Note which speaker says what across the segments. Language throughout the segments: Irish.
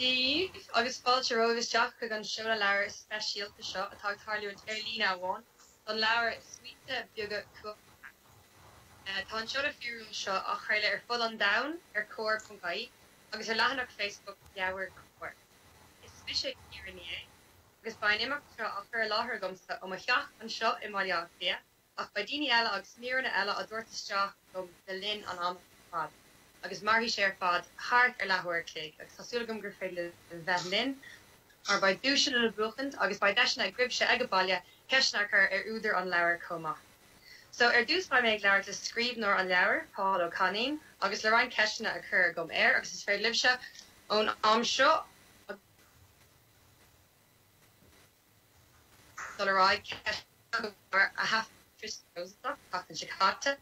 Speaker 1: Daoibh agus fáilte romhaibh isteach chuig an seoladh leabhair speisialta seo atá ag tarlú ar líne amháin don leabhar Smaointe Beaga Cumhachtacha. Tá an seoladh fíorúil seo á chraoladh ar fud an domhain ar Comhar ponc ie agus ar leathanach Facebook Leabhair Comhar. Is mise Ciara Ní É agus beidh an imeacht seo á chur i láthair agamsa ó mo theach anseo i mBaile Átha Cliath. Ach beidh daoine eile agus míreanna eile á dtabhairt isteach agam le linn an ama ar fad, agus mairfidh sé ar fad thart ar leathuair a chloig, agus tá súil agam gur féidir libh bheith linn, mar beidh duaiseanna le buachaint, agus beidh deiseanna agaibhse aige baile ceisteanna a chur ar údar an leabhair chomh maith. So, ar dtús beidh mé ag labhairt le scríbhneoir an leabhair, Pól Ó Cainín, agus le roinnt ceisteanna a chur agam air, agus is féidir libhse ón am seo, agus. dul ar aghaidh, ceist bheag a mhair a thaifeadfar trasna na Rosann an tseachtain seo caite,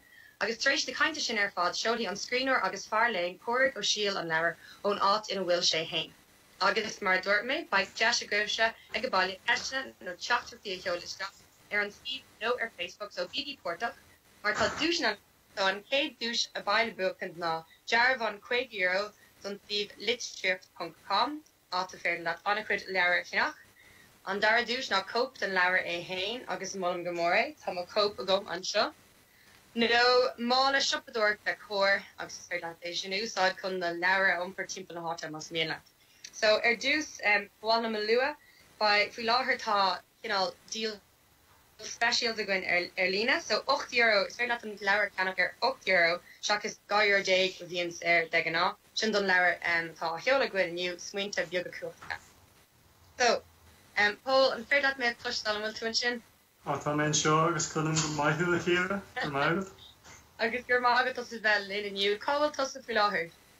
Speaker 1: agus tar éis na cainte sin ar fad seolfaidh an scríbhneoir agus fear léinn Pádraig Ó Siadhail an leabhar ón áit ina bhfuil sé fhéin. Agus mar a dúirt mé, beidh deis agaibhse ag a baile ceisteanna nó teachtaireachtaí a sheoladh isteach ar an suíomh nó ar Facebook, so bígí páirteach mar tá duaiseanna ann. An chéad duais a bheidh le buachaint ná dearbhán €50 don suíomh litríocht ponc com. áit ar féidir leat an-chuid leabhar a cheannach. An dara duais ná cóip den leabhar é fhéin agus molaim go mór é, tá mo chóip agam anseo. Nó mála siopadóireachta Comhar agus is féidir leat é sin a úsáid chun na leabhair a iompar timpeall na háite más mian leat. So ar dtús, ba mhaith liom a lua, faoi láthair tá cineál díol speisialta againn ar líne. So ocht euro, is féidir leat an leabhar a cheannach ar ocht euro seachas dhá euro déag a bhíonn air de ghnáth. Sin don leabhar atá á sheoladh againn inniu, Smaointe Beaga Cumhachtacha. So, Pól, an féidir leat mé a chloisteáil, an bhfuil tú ansin? Á, tá mé anseo agus cloisim go maith thú, a Chiara. Go raibh maith agat. Agus go raibh maith agatsa as a bheith linn inniu. Cá bhfuil tusa faoi láthair?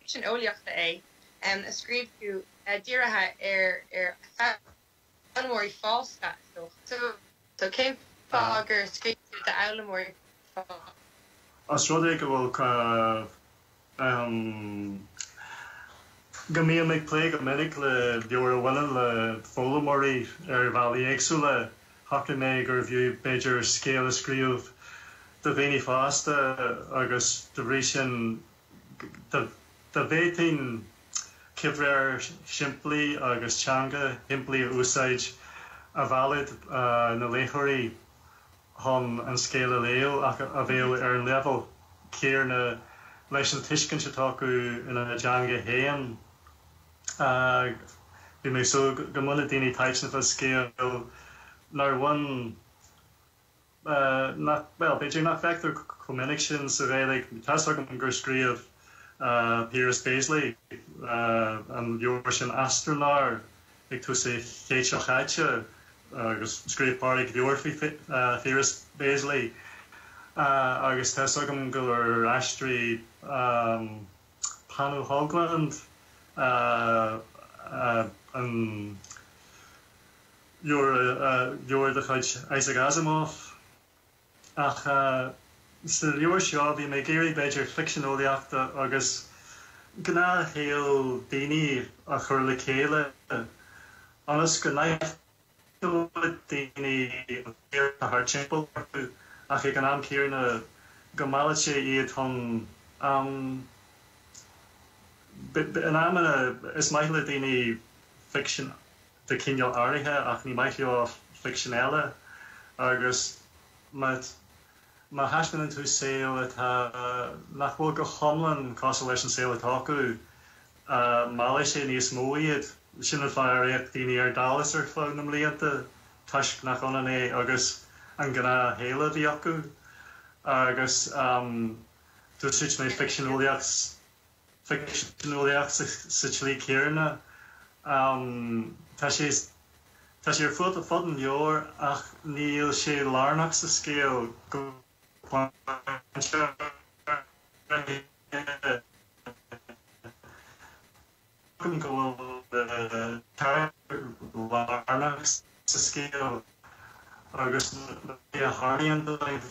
Speaker 1: Ficsean eolaíochta é a scríobh tú, dírithe ar foghlaimeoirí fásta, is dócha. So, cén fáth gur scríobh tú d'fhoghlaimeoirí fásta? Os rud é go bhfuil, go mbím ag plé go minic le leabhair a bhaineann le foghlaimeoirí ar bhealaí éagsúla, shocraigh mé gurbh fhiú, b'fhéidir, scéal a scríobh do dhaoine fásta agus, dá bhrí sin, Dá bhféadfainn comhréir shimplí agus teanga shimplí a úsáid, a mheallfadh na léitheoirí chun an scéal a léamh ach a bheadh ar an leibhéal céarna leis an tuiscint atá acu ina dteanga féin. Bhí mé ag súil go mbainfeadh daoine taitneamh as scéal nár bhain. bhuel, b'fhéidir nach bhfeictear chomh minic sin sa Ghaeilge, tá fhios agam gur scríobh Piaras Béaslaí an leabhar sin Astronár ag tús an chéid seo chaite, agus scríobh Pádraig leabhar faoi Phiaras Béaslaí, agus tá fhios agam gur aistrigh Panu Höglund an. leabhar de chuid Isaac Asimov, ach sa leabhar seo bhí mé ag iarraidh b'fhéidir ficsean eolaíochta agus gnáthshaol daoine a chur le chéile ionas go n-aithneoidh daoine an saol atá thart timpeall orthu ach ag an am céanna go meallfaidh sé iad chun am in amanna is maith le daoine ficsean a de chineál áirithe, ach ní maith leo ficsean eile, agus má thaispeánann tú saol atá, nach bhfuil go hiomlán cosúil leis an saol atá acu, meallfaidh sé níos mó iad. Sin an fáth ar fhéach daoine ar Dallas ar feadh na mblianta, toisc nach ionann é agus an gnáthshaol a bhí acu. Agus d'úsáid mé ficsean eolaíochta. eolaíochta sa tslí chéanna. Tá sé ar fud an leabhair ach níl sé lárnach sa scéal go pointe ar bith. Ceapaim go bhfuil carachtair lárnach sa scéal agus na rudaí a tharlaíonn dóibh.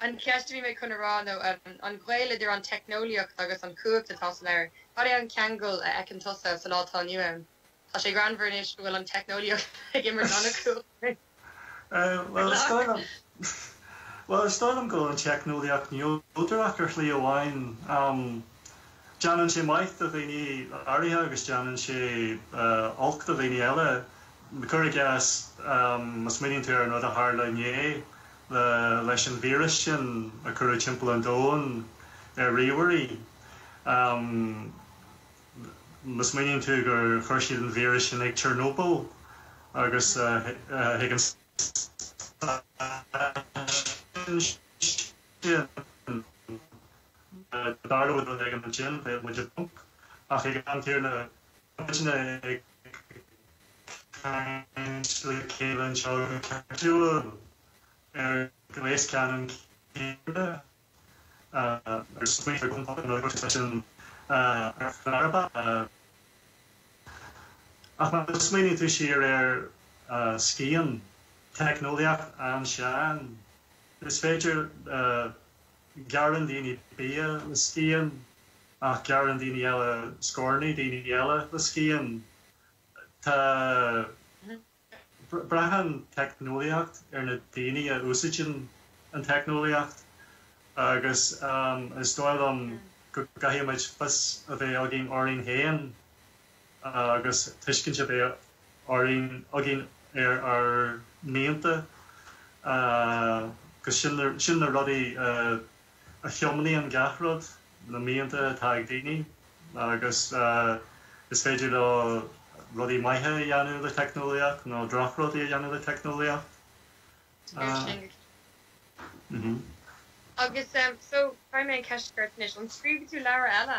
Speaker 1: An cheist a bhí mé chun a rá nó an gaol idir an teicneolaíocht agus an chumhacht atá sa leabhar. Cad é an ceangal a fheiceann tusa sa lá atá inniu ann? Tá sé greannmhar anois go bhfuil an teicneolaíocht ag imirt an-chumhacht ar an leabhar. Bhuel, is dóigh liom go bhfuil an teicneolaíocht neodrach ar shlí amháin. Déanann sé maith do dhaoine áirithe agus déanann sé olc do dhaoine eile. Cuir i gcás, má smaoiníonn tú ar an rud a tharla inné, leis an víreas sin a cuireadh timpeall an domhain ar ríomhairí, má smaoiníonn tú gur chuir siad an víreas sin ag Chernobyl agus chuig an stáisiún sin, dar le bhfuil againn ansin, bheadh muid i bponc. Ach ag an am céanna, tá muidne ag. caint le chéile anseo go cairdiúil ar ghléas ceannann céanna ar smaointear go mbeadh an agus sin ar fearba ach má smaoinigh tú siar ar scian teicneolaíocht ansin is féidir Gearrann daoine bia le scian ach gearrann daoine eile scornaí daoine eile le scian. Tá. Braitheann teicneolaíocht ar na daoine a úsaideann an teicneolaíocht agus is dóigh liom go gcaithfimid fios a bheith againn orainn féin. agus tuiscint a bheith orainn, againn ar ár mianta agus sin, sin na rudaí a thiomnaíonn gach rud, na mianta atá ag daoine agus is féidir leo rudaí maithe a dhéanamh le teicneolaíocht nó drochrudaí a dhéanamh le teicneolaíocht. Ó sin go cinnte. Agus so, caithfidh mé an cheist a chur anois, an scríobhfaidh tú leabhar eile?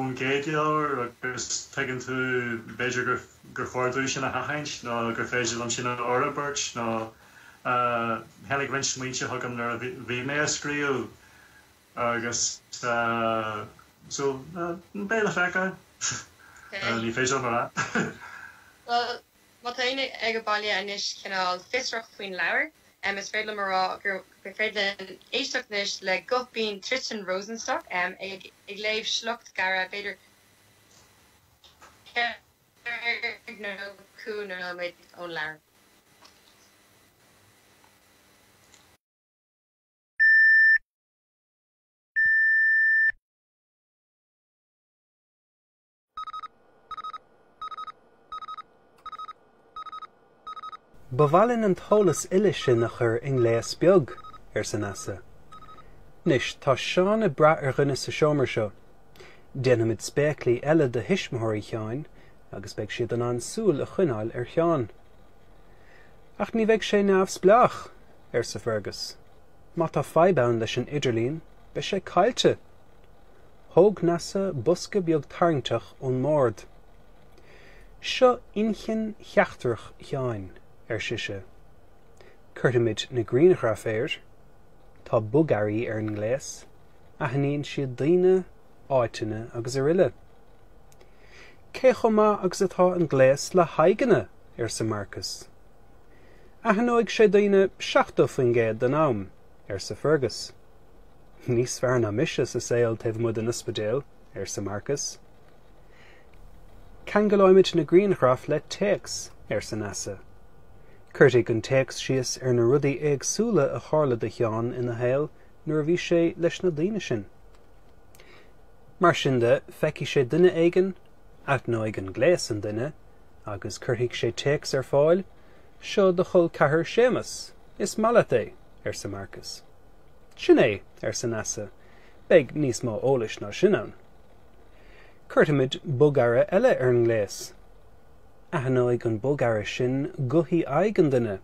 Speaker 1: ón gcéad leabhar agus tuigeann tú, b'fhéidir, gur chóir dúinn sin a sheachaint nó gur féidir liom sin a fhorbairt nó tháinig roinnt smaointe chugam nuair a bhí mé á scríobh agus so beidh le feiceáil, ní féidir liom a rá. Má tá éinne sa bhaile anois cineál fiosrach faoin leabhar, is féidir liom a rá gur féidir linn éisteacht anois le guth binn Tristan Rosenstock ag léamh sliocht gairid, b'fhéidir ceithre nó cúig nóiméad, ón leabhar. Ba mhaith linn an t-eolas uile sin a chur i ngléas beag, arsa Neasa. Anois, tá Seán ag brath ar dhuine sa seomra seo. Déanfaimid spéaclaí eile do thuismitheoirí Sheáin agus beidh siad in ann súil a choinneáil ar Sheán. Ach ní bheidh sé neamhspleách! arsa Fergus. Má tá fadhb ann leis an idirlíon, beidh sé caillte! Thóg Neasa bosca beag tarraingteach ón mbord. Seo inchinn sheachtrach Sheáin, ar sise. Cuirfimid na grianghraif air. Tá bogearraí ar an ngléas, aithníonn siad daoine, áiteanna agus araile. Cé chomh maith agus atá an gléas le haghaidheanna? arsa Marcas. Aithneoidh sé daoine 70% den am, arsa Fergus. Níos fearr ná mise sa saol taobh amuigh den ospidéal, arsa Marcas. Ceangalóimid na grianghraif le téacs, arsa Neasa. Cuirfidh an téacs síos ar na rudaí éagsúla a tharla do Sheán ina shaol nuair a bhí sé leis na daoine sin. Mar sin de, feicfidh sé duine éigin, aithneoidh an gléas an duine, agus cuirfidh sé téacs ar fáil, Seo do chol ceathar Séamas. Is maith leat é, arsa Marcas. Sin é, arsa Neasa, beidh níos mó eolais ná sin ann. Cuirfimid bogearra eile ar an ngléas. Aithneoidh an bogearra sin gothaí aghaidh an duine.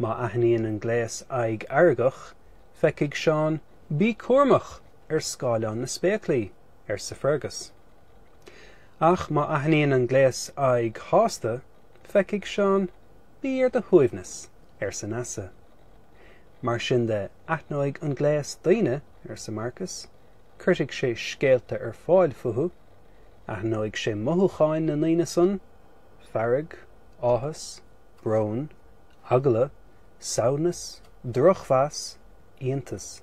Speaker 1: Má aithníonn an gléas aghaidh fheargach, feicfidh Seán, bí cúramach! ar scáileán na spéaclaí, arsa Fergus. Ach má aithníonn an gléas aghaidh shásta, feicfidh Seán, bí ar do shuaimhneas! arsa Neasa. Mar sin de, aithneoidh an gléas daoine, arsa Marcus. Cuirfidh sé scéalta ar fáil fúthu. Aithneoidh sé mothúcháin na ndaoine san, fearg, áthas, brón, eagla, samhnas, drochmheas, iontas.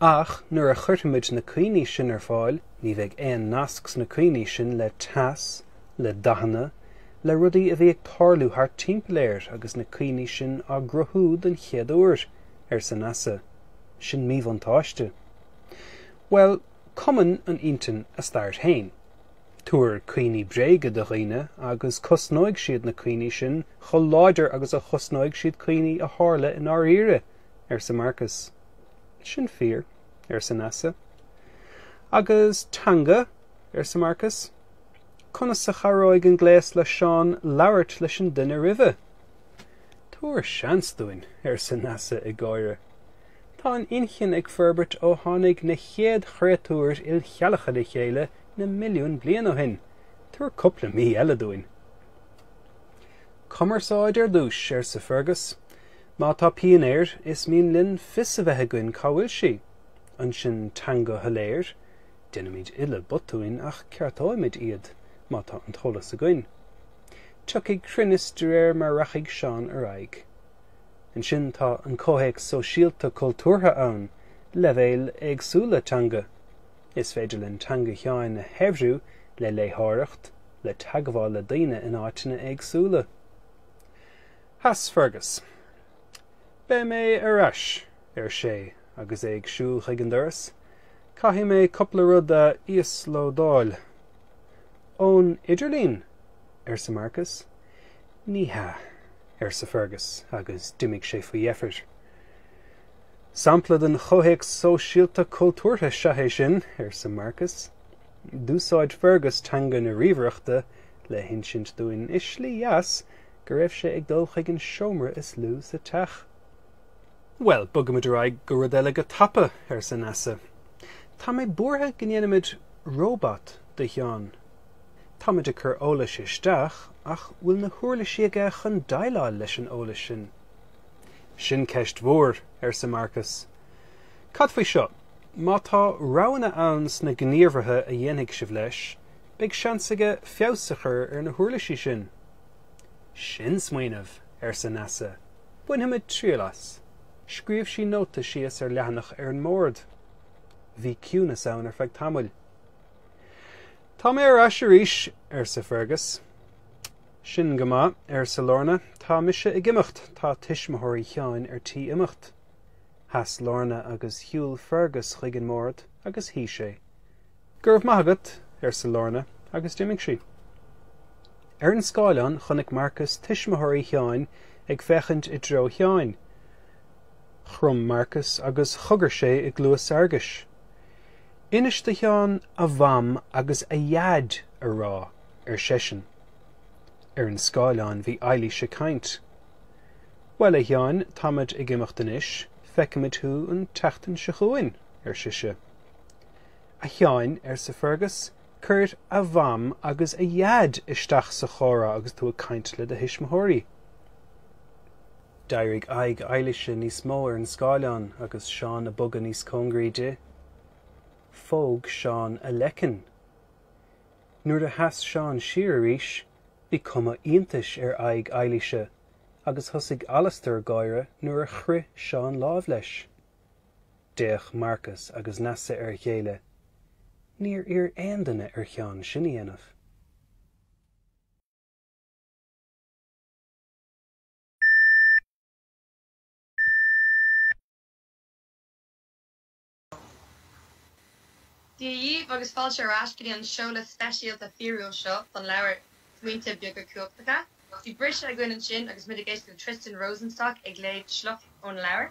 Speaker 1: Ach nuair a chuirfimid na cuimhní sin ar fáil, ní bheidh aon nasc sna cuimhní sin le teas, le dathanna, le rudaí a bhí ag tarlú thart timpeall air agus na cuimhní sin á gcruthú den chéad uair, arsa Neasa. Sin míbhuntáiste. Bhuel, cumann an intinn a stair féin. Tabhair cuimhní bréige do dhaoine agus cosnóidh siad na cuimhní sin chomh láidir agus a chosnóidh siad cuimhní a tharla i ndáiríre. arsa Marcas. Sin fíor, arsa Neasa. Agus teanga, arsa Marcas. Conas a chabhróidh an gléas le Seán labhairt leis an duine roimhe? Tabhair seans dúinn, arsa Neasa ag gáire. Tá an inchinn ag forbairt ó tháinig na chéad chréatúir ilcheallacha le chéile na milliúin bliain ó shin. Tabhair cúpla mí eile dúinn. Cumarsáid ar dtús, arsa Fergus. Má tá pian air, is mian linn fios a bheith againn cá bhfuil sí. Ansin teanga shoiléir, déanfaimid uile botúin ach ceartóimid iad má tá an t-eolas againn. Tiocfaidh cruinneas de réir mar rachaidh Seán ar aghaidh. Ansin tá an comhthéacs sóisialta cultúrtha ann, leibhéil éagsúla teanga. Is féidir linn teanga Sheáin a shaibhriú le léitheoireacht, le teagmháil le daoine in áiteanna éagsúla. Chas Fergus. Beidh mé ar ais, ar sé, agus é ag siúl chuig an doras. Caithfidh mé cúpla rud a íoslódáil. Ón idirlíon? arsa Marcas. Ní hea, arsa Fergus, agus d'imigh sé faoi dheifir. Sampla den chomhthéacs sóisialta cultúrtha seo é sin, arsa Marcas. D'úsáid Fergus teanga na ríomhaireachta le hinsint dúinn, i slí dheas, go raibh sé ag dul chuig an seomra is lú sa teach. Bhuel, bogfaimid ar aghaidh go rud eile go tapa, arsa Neasa. Tá mé buartha go ndéanfaimid róbat de Sheán. Táimid ag cur eolais isteach ach bhfuil na huirlisí aige chun déileáil leis an eolas sin? Sin ceist mhór, arsa Marcas. Cad faoi seo, má tá roghanna ann sna gníomhartha a dhéanfaidh sibh leis, beidh seans aige feabhas a chur ar na huirlisí sin. Sin smaoineamh, arsa Neasa. Bainfimid triail as. Scríobh sí nóta síos ar leathanach ar an mbord. Bhí ciúnas ann ar feadh tamaill. Tá mé ar ais arís, arsa Fergus. Sin go maith, arsa Lorna. Tá mise ag imeacht. Tá tuismitheoirí Sheáin ar tí imeacht. Sheas Lorna agus shiúil Fergus chuig an mbord agus shuigh sé. Go raibh maith agat, arsa Lorna agus d'imigh sí. Ar an scáileán chonaic Marcas tuismitheoirí Sheáin ag féachaint i dtreo Sheáin. Chrom Marcas agus chogair sé i gcluas Fhearghais. Inis do Sheán a Mham agus a Dhaid a rá, ar seisean. Ar an scáileán bhí Eilís ag caint. Bhuel, a Sheáin, táimid ag imeacht anois, feicimid thú an tseachtain seo chugainn, ar sise. 'A Sheáin, arsa Fergus, 'cuir a Mham agus a Dhaid isteach sa chomhrá agus tú ag caint le do thuismitheoirí. D'éirigh aghaidh Eilíse níos mó ar an scáileán agus Seán ag bogadh níos cóngaraí di. Phóg Seán a leiceann. Nuair a sheas Seán siar arís, bhí cuma iontais ar aghaidh Eilíse agus thosaigh Alastar ag gáire nuair a chroith Seán lámh leis. D'fhéach Marcas agus Neasa ar a chéile. Níor iarr aon duine ar Sheán sin a dhéanamh. Dia dhíbh agus fáilte ar ais go dtí an seoladh speisialta fíorúil seo don leabhar Smaointe Beaga Cumhachtacha. Bhí briseadh againn ansin agus muid ag éisteacht le Tristan Rosenstock ag léamh sliocht óna leabhar.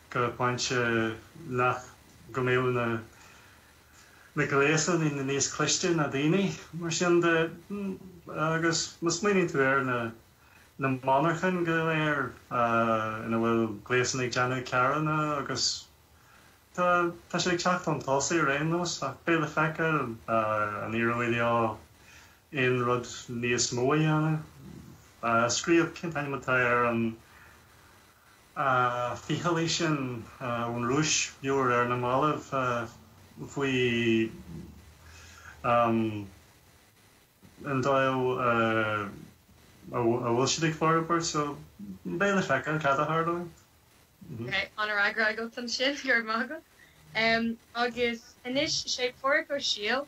Speaker 1: go pointe nach go mbeadh na na gléasanna níos cliste ná daoine. Mar sin de, agus má smaoiníonn tú ar na na monarchain go léir ina bhfuil gléasanna ag déanamh carranna agus tá tá sé ag teacht chun tosaigh ar aon nós ach beidh le feiceáil an éireoidh leo aon rud níos mó a dhéanamh. Scríobh, cén t-ainm atá ar an. a ficheallaí sin ón Rúis, leabhar ar na mallaibh faoin dóigh a bhfuil siad ag forbairt, so beidh le feiceáil cad a tharlóidh ann. Tá an-fhreagra agat ansin, go raibh maith agat. Agus anois, 'sé Pádraig Ó Siadhail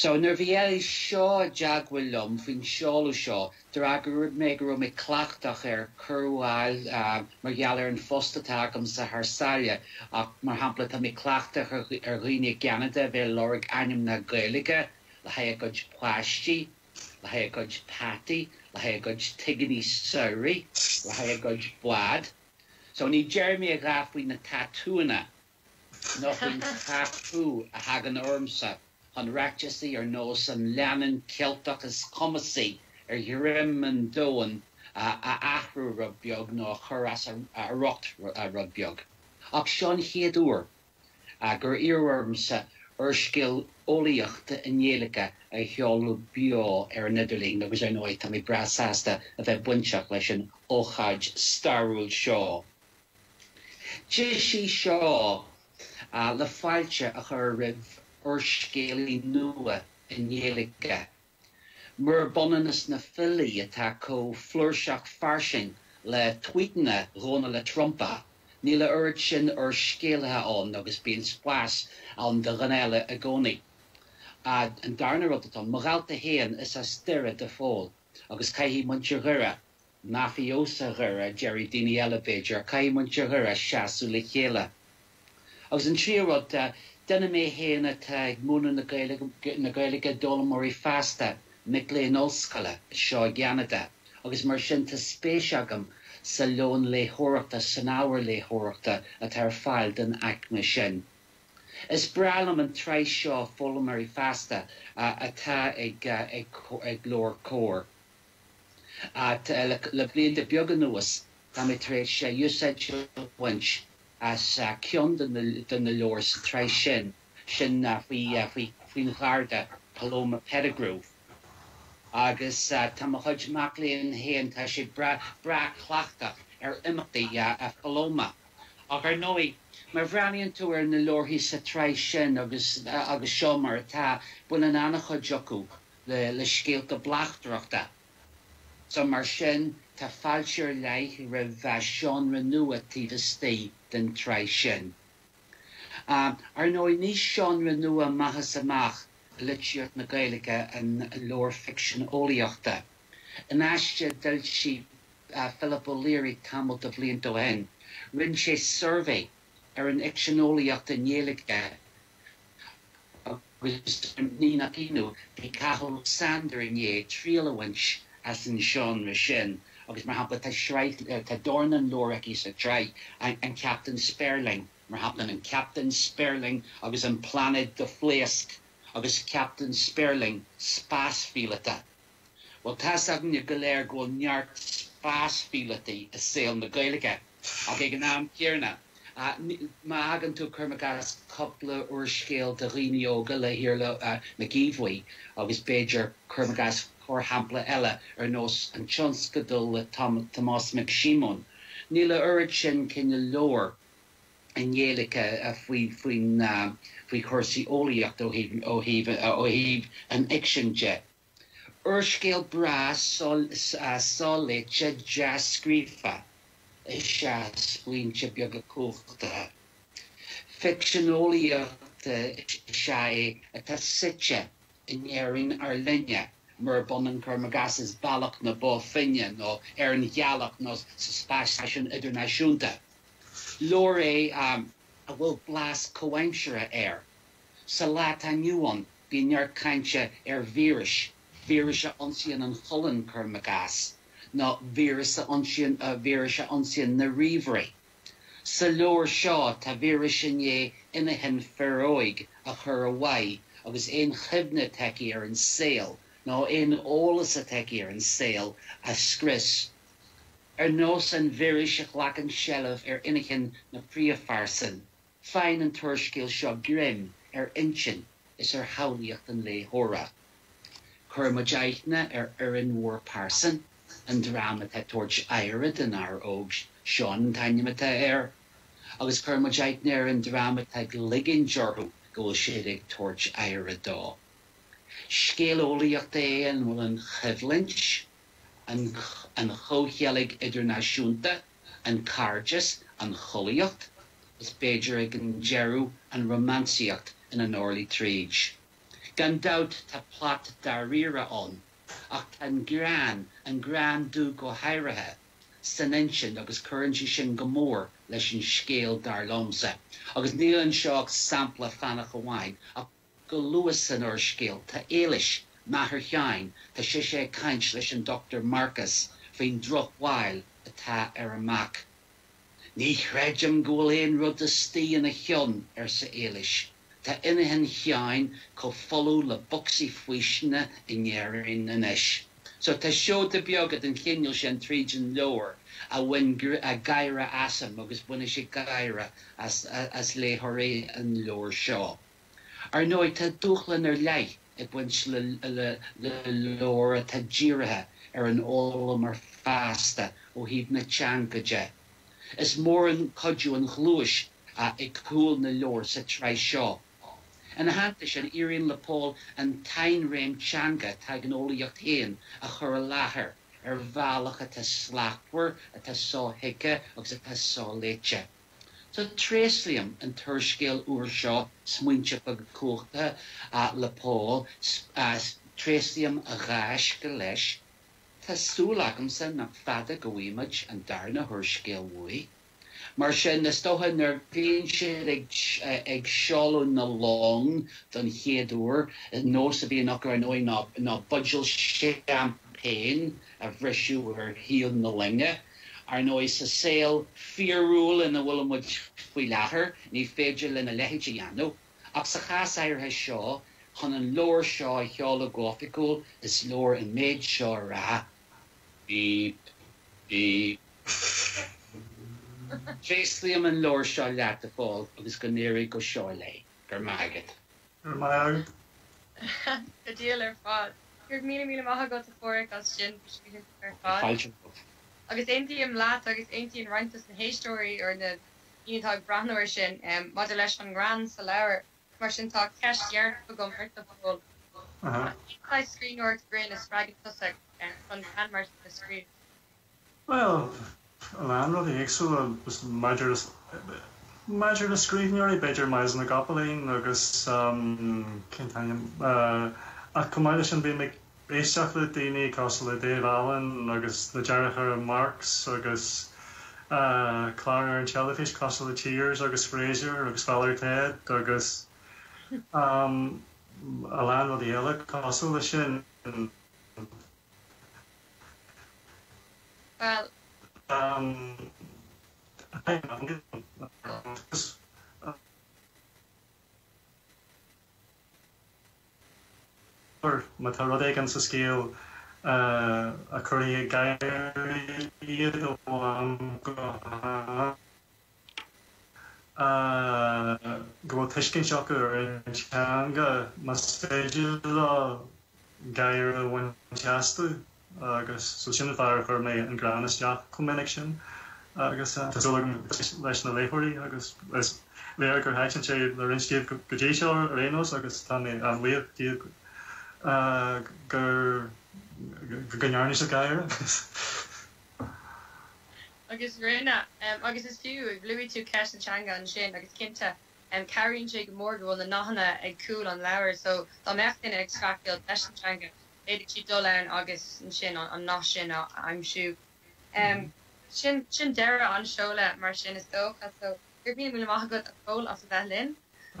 Speaker 1: So, nuair a bhí Eilís Shaw i dteagmháil liom faoin seoladh seo, d'fhreagair mé go raibh mé cleachtach ar chuireadh a fháil mar gheall ar an phost atá agamsa thar sáile ach, mar shampla, tá mé cleachtach ar dhaoine i gCeanada a bheith ag lorg ainmneacha Gaeilge le haghaidh a gcuid páistí, le haghaidh a gcuid peataí, le haghaidh a gcuid tigíní samhraidh, le haghaidh a gcuid bád. So, ní déarfaidh mé a dhath faoi na tatúanna. Nó faoin chathú a thagann ormsa chun ráiteasaí ar nós an leannán Ceilteach is cumasaí ar dhroim an domhain a athrú rud beag nó a chur as a riocht rud beag. Ach seo an chéad uair gur iarradh ormsa úrscéal eolaíochta i nGaeilge a sheoladh beo ar an idirlíon agus ar ndóigh táim breá sásta a bheith bainteach leis an ócáid stairiúil seo. Deis í seo le fáilte a chur roimh úrscéalaí nua i nGaeilge, murab ionann is na filí atá chomh flúirseach fairsing le tuíteanna Dhónaill Trump, níl a oiread sin úrscéalaithe ann agus bíonn spás ann do dhuine eile i gcónaí. An darna rud atá ann mo dhálta féin is as Doire do Phól agus caithfidh muintir Dhoire mafiosa Dhoire, déarfaidh daoine eile, b'fhéidir, caithfidh muintir Dhoire seasamh le chéile. Agus an tríú rud de, duine mé féin atá ag múineadh na Gaeilge d'fhoghlaimeoirí fásta, mic léinn ollscoile, anseo i gCeanada, agus mar sin tá spéis agam sa lón léitheoireachta, san ábhar léitheoireachta atá ar fáil don aicme sin. Is breá liom an tsraith seo Foghlaimeoirí Fásta atá ag Leabhair Comhar. Ach le blianta beaga anuas, tá mé tar éis úsáid a bhaint as ceann de na leabhair sa tsraith sin, sin faoin gharda, Paloma Pettigrew, agus tá mo chuid mac léinn féin, tá siad breá cleachtach ar imeachtaí Phaloma. Ach ar ndóigh, má bhreathnaíonn tú ar na leabharthaí sa tsraith sin agus seo mar atá, baineann an-chuid acu le scéalta bleachtaireachta. So mar sin, tá fáilte ar leith roimh, eh, seánra nua taobh istigh den tsraith sin. Ar ndóigh, ní seánra nua amach is amach i litríocht na Gaeilge an leabhar ficsean eolaíochta. In aiste a d'fhoilsigh Philip O'Leary tamall de bhlianta ó shin, rinne sé suirbhé ar an fhicsean eolaíochta i nGaeilge agus, agus ní nach ionadh, bhí Cathal Ó Sándair i ndiaidh triail a bhaint as an seánra sin agus, mar shampla, tá sraith, tá dornán leabhar aige sa tsraith, An Captaen Spéirling, mar shampla, An Captaen Spéirling agus an Pláinéad do Phléasc agus Captaen Spéirling, Spás-Phíolóta. Bhuel, tá's againne go léir go bhfuil neart spás-phíolótaí i saol na Gaeilge, ach ag an am chéanna, má fhágann tú, cuir i gcás, cúpla úrscéal do dhaoine óga le hIarla Mac Aodha Bhuí agus b'fhéidir, cuir i gcás, corrshampla eile ar nós An Tionscadal le Tomás Mac Síomóin, níl a oiread sin cineál leabhar i nGaeilge faoi chúrsaí eolaíochta ó thaobh an fhicsin de. Úrscéal breá soléite dea-scríofa is ea Smaointe Beaga Cumhachtacha. Ficsean eolaíochta is ea é atá suite i nÉirinn ár linne, murab ionann cuir i gcás is Bealach na Bó Finne nó ar an Ghealach nó sa spás-stáisiún idirnáisiúnta. Leabhar é a bhfuil blas comhaimseartha air. Sa lá atá inniu ann, Bíonn neart cainte ar víris, víris a ionsaíonn an cholainn, cuirim i gcás, nó víris a ionsaíonn na ríomhairí. Sa leabhar seo, tá víreas i ndiaidh inchinn fir óig a chur ó mhaith agus aon chuimhne atá aici ar an saol, nó aon eolas atá aici ar an saol, a scrios. Ar nós an víris a ghlacann seilbh ar inchinn na príomhphearsan. Faigheann an t-úrscéal seo greim ar intinn is ar shamhlaíocht an léitheora. Cuireann muid aithne ar fhoireann mhór pearsan an dream atá ag tabhairt aire don fhear óg, Seán an t-ainm atá air, agus cuireann muid aithne ar an dream atá ag ligint orthu go bhfuil siad ag tabhairt aire dó. Scéal eolaíochta é a bhfuil an choimhlint, an chomhcheilg idirnáisiúnta, an cairdeas, an chollaíocht, is b'fhéidir ag an deireadh an rómánsaíocht ina n-orlaí tríd. Gan dabht tá plot dáiríre ann, ach tá an greann, an greann dubh go háirithe, san insint agus cuireann sé sin go mór leis an scéal dar liomsa. Agus níl anseo ach sampla fánach amháin, ach. Go luath san úrscéal tá Éilis, máthair Sheáin, tá sise ag caint leis an Dr Marcas faoin drochbhail atá ar a mac. 'Ní chreidim go bhfuil aon rud istigh ina cheann, arsa Éilis. 'Tá inchinn Sheáin chomh folamh le bocsaí faoistine in Éirinn anois. So tá seoda beaga den chineál sin tríd an leabhar a bhain gáire asam agus bainfidh sé gáire as léitheoirí an leabhair seo. Ar ndóigh, tá dúshlán ar leith ag baint le leabhar atá dírithe ar an fhoghlaimeoir fásta ó thaobh na teanga de. Is mór an cuidiú an ghluais ag cúl na leabhar sa tsraith seo. Ina theannta sin, éiríonn le Pól an tsainréim teanga atá ag an eolaíocht féin a chur i láthair ar bhealach atá slachtmhar, atá sothuigthe agus atá soléite. Sea, tréaslaím an t-úrscéal úr seo Smaointe Beaga Cumhachtacha le Pól, tréaslaím a ghaisce leis. Tá súil agamsa nach fada go bhfaighimid an darna húrscéal uaidh. Mar sin, is dócha, nuair a bhíonn siad ag seoladh na long don chéad uair, nós a bhíonn acu, ar ndóigh, ná buidéal seaimpéin, a bhriseadh ar thaobh na loinge. Ar ndóigh, sa saol fíorúil ina bhfuilimid faoi láthair, ní féidir linn a leithéid a dhéanamh, ach sa chás áirithe seo, chun an leabhar seo a sheoladh go hoifigiúil, is leor an méid seo a rá, Bíp, bíp, bíp. Tréaslaím an leabhar seo leat, a Phóil, agus go n-éirí go seoigh leat. Go raibh maith agat. Go raibh maith agat. Go diail ar fad. Go míle míle maith agat a Phádraig as sin do scríbhinn ar fad. Fáilte romhat. Agus aontaím leat agus aontaíonn roinnt dos na héisteoirí or na daoine atá ag breathnú ar sin maidir leis an ngreann sa leabhar. Mar sin tá ceist dheireanach agam ort a Phóil. Cén saghas scríbhneoir grinn a spreagann tusa chun greann mar sin a scríobh? Bhuel, a lán rudaí éagsúla. Maidir le scríbhneoirí, b'fhéidir Myles na gCopaleen agus, cén t-ainm, ach chomh maith leis sin bhí mé ag éisteacht le daoine cosúil le Dave Allen agus na deartháireacha Marx agus cláir ar an teilifís cosúil le Cheers agus Frasier agus Father Ted agus a lán rudaí eile cosúil leis sin. Bhuel. má tá rud éigin sa scéal a chuirfidh ag gáire iad ó am go ham. go bhfuil tuiscint acu ar an teanga, más féidir leo gáire a bhaint astu agus so sin an fáth ar chuir mé an greann isteach chomh minic sin agus tá súil agam gur thaitin sé leis na léitheoirí agus is léir gur thaitin sé le roinnt díobh go dtí seo ar aon nós agus tá mé an-bhuíoch díobh go ndearna siad gáire. Agus rinne. Agus fiú, luaigh tú ceist na teanga ansin, agus cinnte, cabhraíonn sé go mór go bhfuil na nathanna ag cúl an leabhair, so dá mbeadh duine ag streachailt leis an teanga, d'fhéadfadh siad dul ann agus ansin an nath sin a aimsiú. Sin, sin deireadh an tseolta mar sin is dócha, so go raibh, míle maith agat a Phóil as a bheith linn,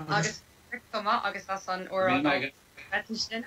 Speaker 1: agus, agus, chomh maith, agus as an óráid álainn sin.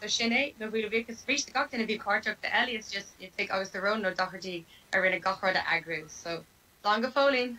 Speaker 1: So sin é mo bhuíochas arís do gach duine a bhí páirteach, do Elias, Joseph Fhitig agus do Ronan Ó Dochartaigh a rinne gach rud a eagrú. So, slán go fóillín!